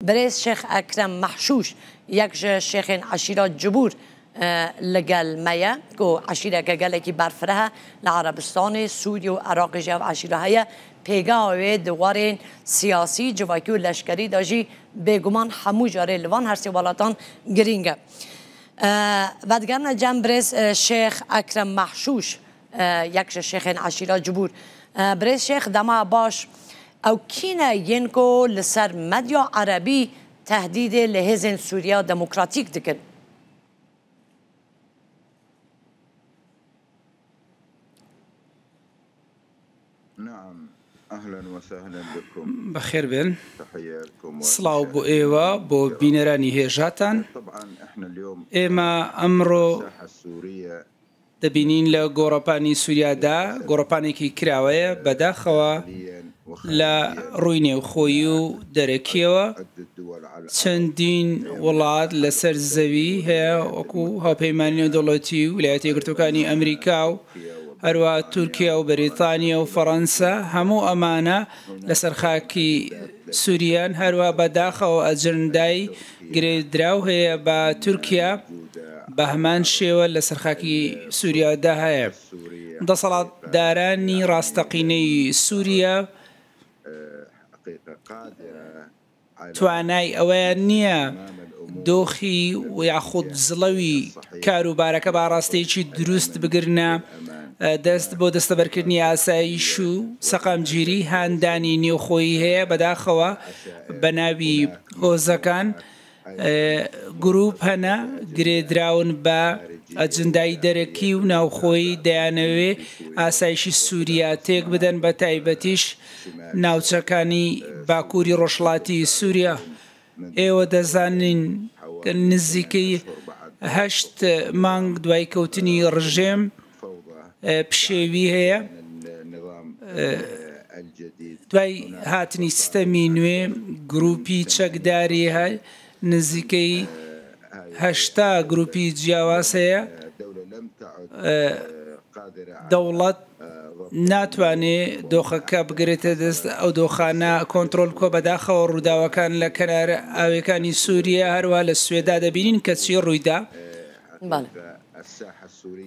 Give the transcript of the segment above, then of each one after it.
بەرێز شێخ ئەکرەم مەحشووش یەک ژە شێخێن عەشیرە جبوور لە گەل مەیە گۆ عەشیرەگە گەلەکی بەرفرەه لە عەرەبستانێ سووریە و عراقێ ژە ئەو عەشیرە هەیە پێگاوێ دووارێن سیاسی، جڤاکی و لەشکەری دا ژی بێگومان هەموو جارێ لە وان هەرسێ وەڵاتان گرینگە. ڤەدگەرنە جەم برێز شێخ ئەکرەم مەحشووش یک ژە شێخێن عەشیرە جبور. برێز شێخ دەما باش ئەو کینە ینکۆ لە سەر مەدیا عەرەبی تەهدیدێ لە هێزێن سوریا دموکراتیک دکن. بەخێربێن سڵاو بۆ ئێوە بۆ بینەرانی هێژاتان ئێمە ئەمڕۆ دەبینین لە گۆڕەپانی سوریادا گۆڕەپانێکی کراوەیە بەداخەوە لە ڕووی نێوخۆیی و دەرەکیەوە چەندین وڵات لەسەر زەوی هەیە وەکو هاوپەیمانی نێودەوڵەتی و ولایەتە یەکگرتوەکانی ئەمریکا و هەروە تورکیا و بەریتانیا و فەڕەنسا هەموو ئەمانە لەسەر خاکی سووریان هەروە بەداخەوە ئەجندای گرێدراو هەیە با تورکیا بە هەمان شێوە لەسەر خاکی سووریادا هەیە دەسەڵات دارانی ڕاستەقینەی سووریا توانای ئەوەیان نییە دۆخی و یاخود زڵەوی کاروبارەکە با ڕاستێکی دروست بگرنە دەست بۆ دەستەبەرکردنی ئاسایش و سەقامگیری هاندانی نێوخۆی هەیە بەداخەوە بە ناوی هۆزەکان گروپ هەنە گرێدراون بە ئەجندای دەرەکی و ناوخۆی دەیانەوێ ئاسایشی سووریا تێک بدەن بە تایبەتیش ناوچەکانی باکووری ڕۆژڵاتی سووریا ئێوە دەزانین نزیکەی هەشت مانگ دوای کەوتنی ڕژێم پشێوی هەیە دوای هاتنی سیستەمی نوێ گروپی چەکداری هە نزیکەی هەشتا گروپی جیاواز هەیە دەوڵەت ناتوانێ دۆخەکە بگرێتە دەست ئەو دۆخانە کۆنتترۆل کۆ بەداخەوە ڕووداوەکان لە کەنار ئاوەکانی سووریە هەروە لە سوێدا دەبینین کەچی ڕوویدا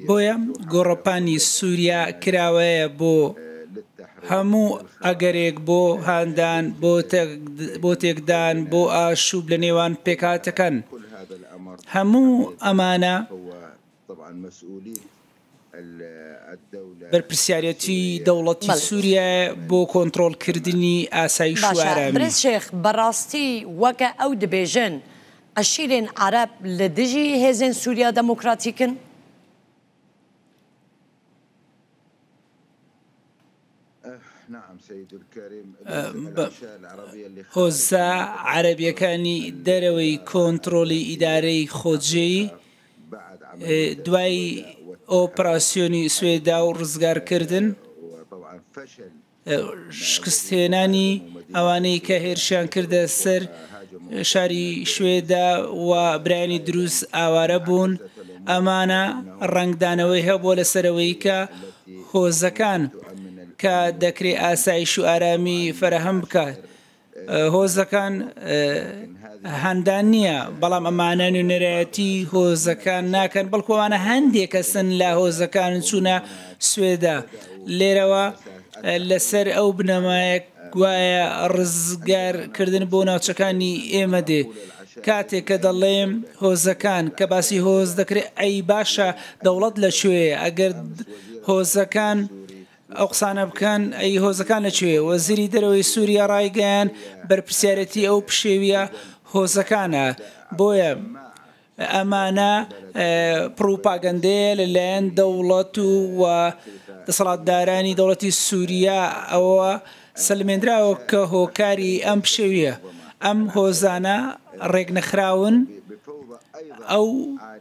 بۆیە گۆڕەپانی سوریا کراوەیە بۆ هەموو ئەگەرێک بۆ هاندان بۆ تێکدان بۆ ئاشوب لە نێوان پێکاتەکان هەموو ئەمانە بەرپرسیارێتی دەوڵەتی سوریایە بۆ کۆنتڕۆڵ کردنی ئاسایش و ئارامی. باشە برا شێخ بەڕاستی وەکە ئەو دبێژن عەشیرێن عەرەب لە دژی هێزێن سوریا دەمۆکڕاتیکن؟ هۆزە عەرەبییەکانی دەرەوەی کۆنتڕۆڵی ئیدارەی خۆجێی دوای ئۆپراسسیۆنی سوێدا و ڕزگارکردن شکستهێنانی ئەوانەی کە هێرشیان کردە سەر شاری شوێدا و برانی دروست ئاوارە بوون ئەمانە ڕنگدانەوەی هەبووە لەسەرەوەی کە هۆزەکان کە دەکرێ ئاسایش و ئارامی فەرەهەم بکات هۆزەکان هەندان نییە بەڵام ئەمانە نوێنەرایەتی هۆزەکان ناکەن بەڵکووانە هەندێک کەسن لە هۆزەکان چوونە سوێدا لێرەوە لەسەر ئەو بنەمایە گوایە ڕزگار کردن بۆ ناوچەکانی ئێمە دێ. کاتێ کە دەڵێم هۆزەکان، کە باسی هۆز دەکرێ ئەی باشە دەوڵەت لە کوێیە؟ ئەگەر هۆزەکان ئەو قسانە بکەن ئەی هۆزەکان لە کوێیە؟ وەزیری دەرەوەی سووریا ڕایگەیاند بەرپرسیارێتی ئەو پشێوییە هۆزەکانە. بۆیە ئەمانە پڕوپاگەندەیە لە لایەن دەوڵەت و دەسەڵاتدارانی دەوڵەتی سوریاوە سەلمێندراوە کە هۆکاری ئەم پشێویە ئەم هۆزانە ڕێک نەخراون ئەو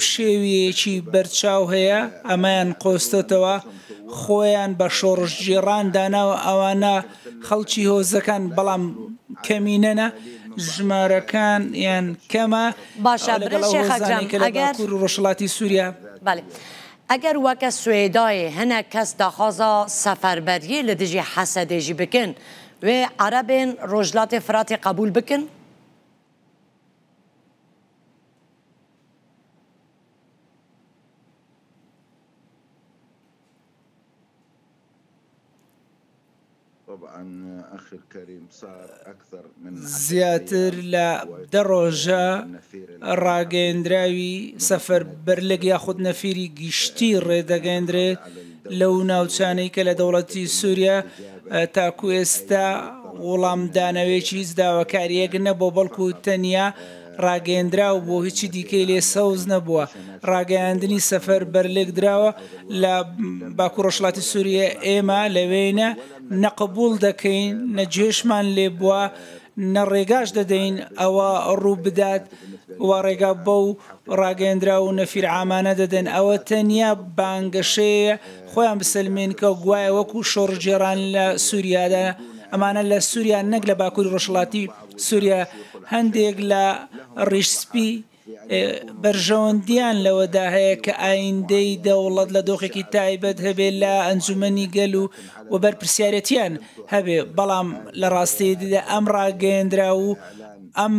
پشێویەکی بەرچاو هەیە ئەمەیان قۆستۆتەوە خۆیان بە شۆڕش جێڕان داناوە ئەوانە خەڵکی هۆزەکان بەڵام کەمینەنە ژمارەکان یان کەمە باشە برا شێخ ئەکرەم ئەگەر ڕۆژهەڵاتی سوریا بەلی ئەگەر وەکە سوێدایێ هەنە کەس داخوازا سەفەربەریێ لە دژی حەسەدێژی بکن وێ عەرەبێن ڕۆژلاتێ فراتی قەبول بکن؟ زیاتر لە دە ڕۆژە ڕاگەیەندراوی سەفەربەرلگ یاخود نەفیری گشتی ڕێدەگەیەندرێت لەو ناوچانەی کە لە دەوڵەتی سووریا تاکو ئێستا وڵامدانەوەیەکی هیچ داواکارییەک نەبووە بەڵکو تەنیا ڕاگەیەندراو بوو هیچی دیکەی لێ سەوز نەبووە ڕاگەیاندنی سەفەر بەرلێک دراوە لە باکو ڕۆژڵاتی سووریە ئێمە لەوێینە نەقبول دەکەین نە جێشمان لێ بووە نە ڕێگاش دەدەین ئەوە ڕوو بدات و ڕێگا بەو ڕاگەندرا و نەفیر ئامانە دەدەن ئەوە تەنیا بانگەشەیە خۆیان بسلمێن کە گوایە وەکو شۆڕژێران لە سووریادا ئەمانە لە سووریا نەک لە باکووری ڕۆژڵاتی سوریا، هەندێک لە ڕیش سپی بەرژەوەندییان لەوەدا هەیە کە ئایندەی دەوڵەت لە دۆخێکی تایبەت هەبێت لە ئەنجومەنی گەل و و بەرپرسیارێتیان هەبێ، بەڵام لە ڕاستێیدیدا ئەم ڕاگەیەندراو و ئەم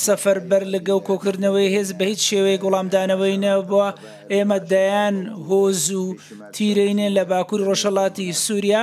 سەفەربەرلگە و کۆکردنەوەی هێز بە هیچ شێوەیەک وڵامدانەوەی نەبووە، ئێمە دەیان هۆز و تیرەینێن لە باکوری ڕۆژهەڵاتی سوریا،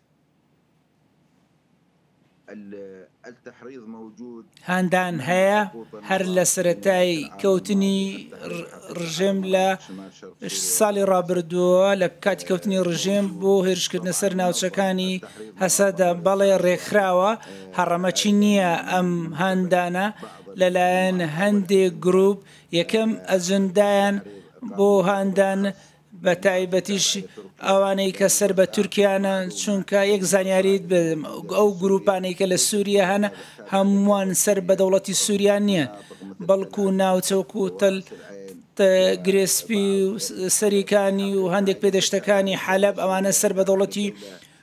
هاندان هەیە هەر لە سەرەتای کەوتنی ڕژێم لە ساڵی ڕابردووە لە کاتی کەوتنی ڕژێم بۆ هێرشکردنە سەر ناوچەکانی هەسەدە بەڵێ ڕێکخراوە هەڕەمەچی نییە ئەم هاندانە لەلایەن هەندێک گروپ یەکەم ئەجندایان بۆ هاندان بە تایبەتیش ئەوانەی کە سەر بە تورکیانە چونکە یەک زانیاریت بدەم ئەو گروپانەی کە لە سووریە هەن هەمووان سەر بە دەوڵەتی سووریا نییە بەڵکو ناوچەک و تەل گرێسپی و سەریکانی و هەندێک پێدەشتەکانی حەلەب ئەوانە سەر بە دەوڵەتی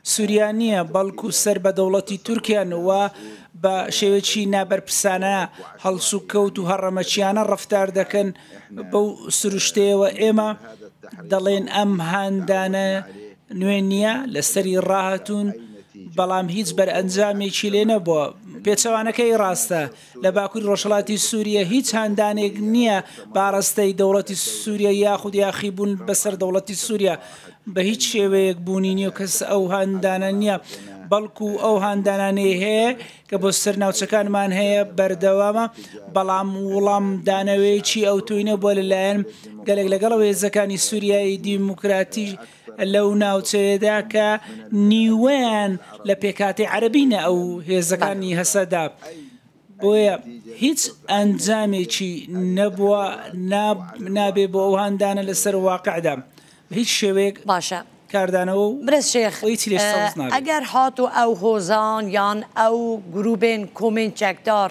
سوریا نییە، بەڵکو سەر بە دەوڵەتی تورکیان و بە شێوەیەکی نابەرپرسانە، هەڵسوکەوت و هەڕەمەکیانە ڕەفتار دەکەن، بەو سروشتەیەوە ئێمە دەڵێین ئەم هاندانە نوێ نییە، لەسەری ڕاهاتوون، بەڵام هیچ بەرئەنجامێکی لێ نەبووە، پێچەوانەکەی ڕاستە. لە باکوری ڕۆژهەڵاتی سوریە هیچ هاندانێک نییە بە ئاڕاستەی دەوڵەتی سوریە یاخود یاخیبوون بەسەر دەوڵەتی سوریە بە هیچ شێوەیەک بوونی نییە و کەس ئەو هاندانە نییە بەڵکو ئەو هاندانانەی هەیە کە بۆ سەر ناوچەکانمان هەیە بەردەوامە بەڵام وڵام دانەوەیەکی ئەوتوینە بۆ لەلایەن گەلێک لەگەڵەوە هێزەکانی سوریایی دیموکراتی لەو ناوچەیەدا کە نیوەیان لە پێکهاتەی عەرەبینە ئەو هێزەکانی هەسەدە بۆیە هیچ ئەنجامێکی نەبووە نابێ بۆ ئەو هاندانە لەسەر واقعدا هیچ شێوەیەک باشە کاردانەوە و برێز شێخ ئەگەر هات و ئەو هۆزان یان ئەو گروبێن کۆمێن چەکدار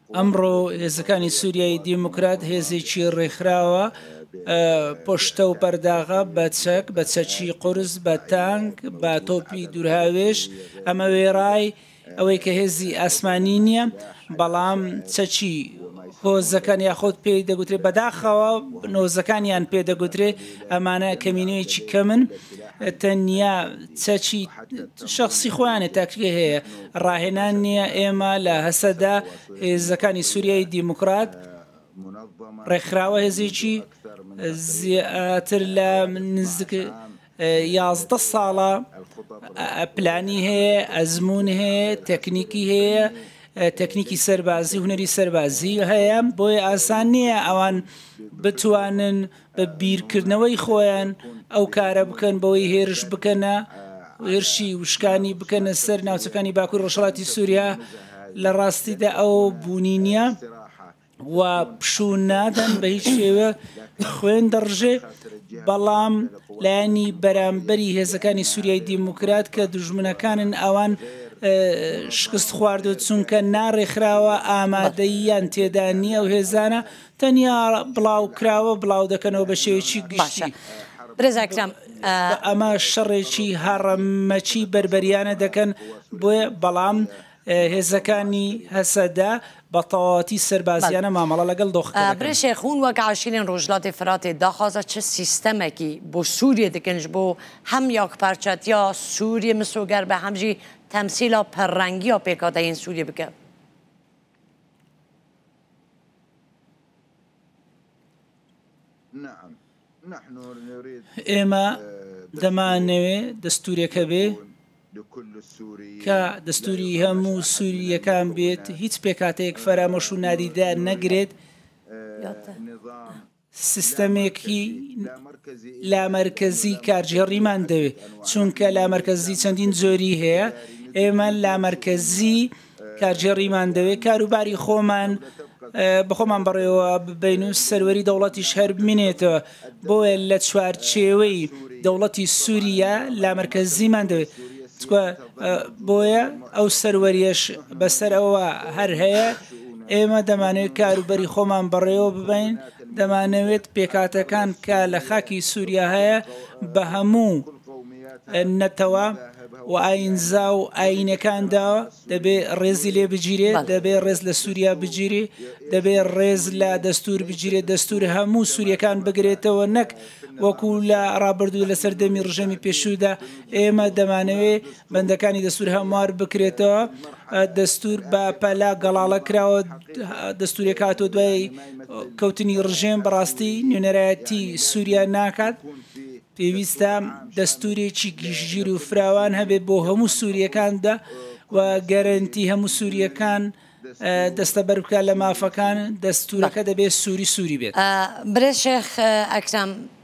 ئەمڕۆ هێزەکانی سووریای دیموکرات هێزێکی ڕێکخراوە پشتە و پەرداغە بە چەک بە چەکی قرس بە تانک بە تۆپی دوورهاوێش ئەمە وێڕای ئەوەی کە هێزی ئاسمانی نییە بەڵام چەکی هۆزەکان یاخود پێ دەگوترێ بەداخەوە نۆزەکانیان پێ دەگوترێ ئەمانە کەمینەیەکی کەمن تەنیا چەچی شخصی خۆیانێ تاکرێ هەیە ڕاهێنان نییە، ئێمە لە هەسەدە، هێزەکانی سووریای دیموکرات، ڕێکخراوە هێزێکی زیاتر لە نزیک یازدە ساڵە پلانی هەیە، ئەزموون هەیە، تەکنیکی هەیە، تەکنیکی سەربازی، هونەری سەربازی هەیە، بۆیە ئاسان نییە ئەوان بتوانن بە بیرکردنەوەی خۆیان ئەو کارە بکەن بەوەی هێرش بکەنە هێرشی وشکانی بکەنە سەر ناوچەکانی باکوور ڕۆژهڵاتی سووریا لە ڕاستیدا ئەو بوونی نییە و پشوو نادەن بە هیچ شێوە خوێن دەڕژێ بەڵام لایەنی بەرامبەری هێزەکانی سووریای دیموکرات کە دژمنەکانن ئەوان شکست خواردو چونکە ناڕێکخراوە ئامادەییان تێدا نییە و هێزانە تەنیا بڵاوکراوە بڵاو دەکەنەوە بە شێوەیەکی گشتی. باشە برێزای کرام ئە. ئەمە شەڕێکی هەڕەمەکی بەربەریانە دەکەن بۆیە بەڵام هێزەکانی هەسەدە بە تەواوەتی سەربازیانە مامەڵە لەگەڵ دۆخەکە دەکەن. برێ شێخون وەک عاشیرێن ڕۆژلاتێ فراتێ داخوازە چ سیستەمەکی بۆ سووریە دکەنج بۆ هەم یاک پارچەتیا سووریە مسۆگەر بە هەم ژی تەمسیلا پەرڕەنگیا پێکاتەیین سووریە بکە. ئێمە دەمانەوێ دەستورێکە بێ کە دەستوری هەموو سوورییەکان بێت هیچ پێکاتەیەک فەرامۆش و نادیدار نەگرێت سیستەمێکی لامەرکەزی کارگێڕیمان دەوێت، چونکە لامەرکەزی چەندین جۆری هەیە، ئێمە لامەرکەزی کارگێڕیمان دەوێت کاروباری خۆمان بەخۆمان بەڕێوە ببین و سەروەری دەوڵەتیش هەر بمینێتەوە بۆیە لە چوارچێوەی دەوڵەتی سووریا لامەرکەزیمان دەوێت بۆیە ئەو سەروەریەش بەسەر ئەوە هەر هەیە ئێمە دەمانەوێت کاروبەری خۆمان بەڕێوە ببین دەمانەوێت پێکاتەکان کە لە خاکی سووریا هەیە بە هەموو نەتەوە و ئاینزا و ئاینەکاندا دەبێ ڕێزی لێ بگیرێت دەبێ ڕێز لە سووریا بگیری دەبێ ڕێز لە دەستور بگیرێت دەستور هەموو سووریەکان بگرێتەوە نەک وەکو لە ڕابردوو لە سەردەمی ڕژەمی پێشودا ئێمە دەمانەوێ بەندەکانی دەستوور هەموار بکرێتەوە، دەستوور بە پەلە گەڵاڵە کراوە، دەستوورێک هاتووە دوای کەوتنی ڕژێم بەڕاستی نوێنەرایەتی سووریا ناکات، پێویستە دەستوورێکی گشتگیر و فراوان هەبێت بۆ هەموو سوورییەکاندا و گەرەنتی هەموو سوورییەکان دەستەبەر بکات لە مافەکان، دەستوورەکە دەبێت سووری سووری بێت. برێ شێخ ئەکرەم،